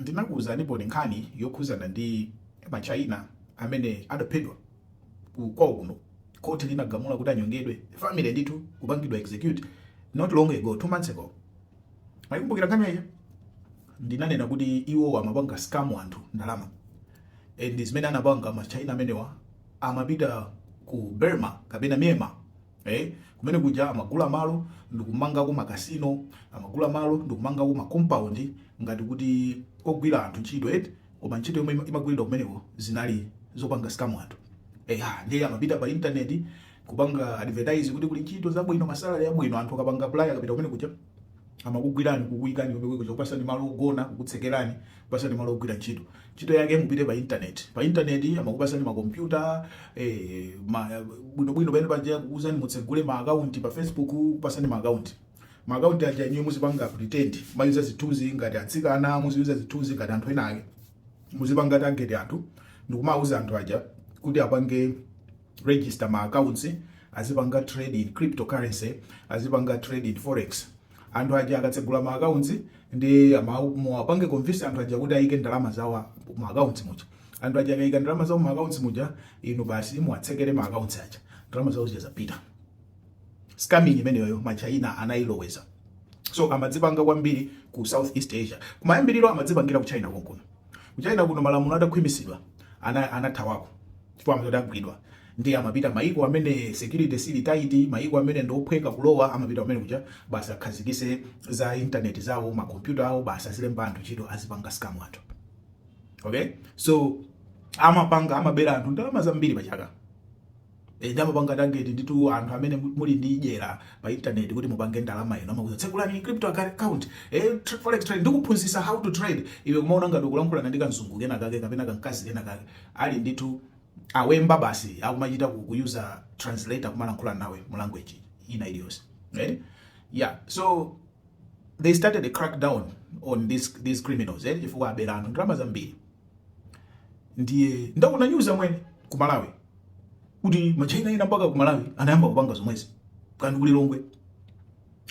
Ndinakuuzaniponi nkhani yokhuzana ndi ma China amene adaphedwa kwawo kuno, court linagamula kuti anyongedwe, family ndithu kupangidwa execute not long ago, two months ago. Mwaikumbukira nkhani imeneija? Ndinanena kuti iwowo amapanga scam anthu ndalama and zimene anapanga ma China amenewa amapita ku Burma kapena Myanmar, Eh, kumene kuja amagula malo ndikumangako makasino amagula malo ndikumangako makompaundi ngati kuti ogwira anthu ntchito eti koma ntchito yomwe ima- imagwiridwa kumeneko zinali zopanga scam anthu eya ndiye amapita pa intaneti kupanga advertise kuti kuli ntchito zabwino masalary abwino anthu akapanga apply akapita kumene kuja amakugwirani kukuyikani komwe kuja kupasani malo ogona kukutsekerani kupasani malo ogwira ntchito ntchito yake mupite pa internet pa internet amakupasani makompyuta eh, ma, bwino bwino pene paja kukuuzani mutsegule ma account pa facebook kupasani ma account ma account aja inuyo muzipanga pretend muziyuza zithunzi ngati atsikana muziyuza zithunzi ngati anthu ena ake muzipanga target anthu ndikumauza anthu aja kuti apange register ma accounts azipanga trade in cryptocurrency azipanga trade in forex anthu aja akatsegula ma accounts ndiye muwapange convince anthu aja kuti ayike ndalama zawo ma accounts muja anthu aja akayika ndalama zawo ma accounts muja inu basi muwatsekere ma accounts aja ndalama zawo zizipita scamming imeneyo ma China anayiloweza so amazipanga kwambiri ku southeast asia kumayambiriro amazipangira ku china konkuno ku china kuno malamulo adakhwimisidwa anathawako ana chifukwa amazagwidwa ndiye amapita maiko amene security sili tight, maiko amene ndi ophweka kulowa, amapita kumene kuja basi akhazikitse za internet zawo ma computer awo, basi azilemba anthu ntchito, azipanga scam anthu. Okay, so amapanga amabera anthu ndalama zambiri pa chaka e, ndi amapanga target ndithu anthu amene muli ndi jera pa internet kuti mupange ndalama inu, amakuuza tsekulani crypto account e, forex trade ndikuphunzitsa how to trade, iwe kumaona ngati ukulankhulana ndi kanzungu kena kake kapena kankazi kena kake Ali ndithu amwene basi akumachita kuyuza translator kumalankhula nawe mu language ina iliyonse right yeah so they started a crackdown on this, these criminals eh? chifukwa abera anthu ndalama zambiri ndiye ndaona news amwene ku Malawi kuti ma China ena mpaka ku Malawi anayamba kupanga zomwezi kandi ku Lilongwe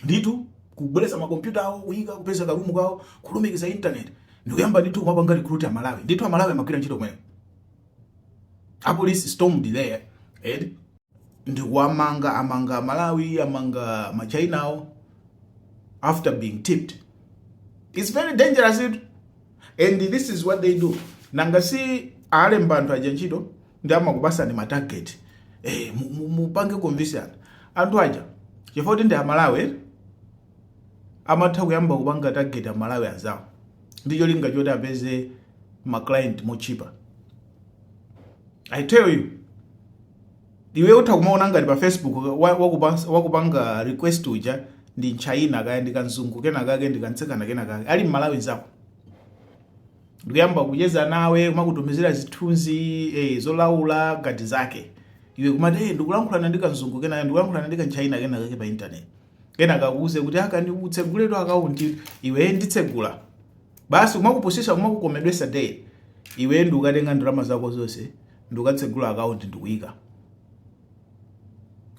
ndithu kubweretsa makompyuta awo kuyika kupeza karumu kawo kulumikiza internet ndikuyamba ndithu kumapanga recruit amalawi ndithu amalawi amagwira ntchito kumeneko apolisi stormed there ndikuwamanga amanga amalawi amanga ma Chinawo after being tipped its very dangerous it and this is what they do nanga si alemba anthu aja ntchito nde amakupasani ma target mupange convince anthu aja chifukwa choti ndi amalawi amatha kuyamba kupanga target amalawi anzawo ndi cholinga choti apeze ma client motchipa i tell you Iwe utha kumaona ngati pa Facebook wakupanga request uja ndi mtchaina kaya ndi kanzungu kenakake ndi kamtsikana kenakake ali mmalawi nzako ndikuyamba kucheza nawe kumakutumizira zithunzi eh, zolaula ngati zake iwe kumati hey, eh, ndikulankhulana ndi kanzungu kenakake ndikulankhulana ndi kantchaina kenakake pa intaneti kenaka akuuze kuti ukatseguletu akaunti iwe eh, nditsegule basi kumakupusisa kumakukomedwesa iwe ndikukatenga ndalama zako zonse ndikukatsegula akaunti ndikuyika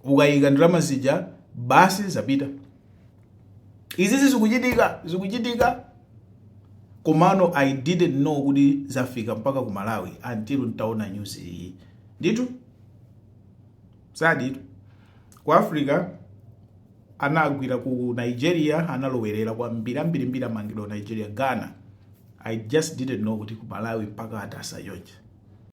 ukayika ndalama zija basi zapita izizi zikuchitika zikuchitika komano i didn't know kuti zafika mpaka ku malawi until ntaona news iyi nditu zedi ku africa anagwira ku nigeria analowerera kwambiri ambirimbiri amangidwa ku nigeria ghana i just didn't know kuti ku malawi mpaka atasa chonchi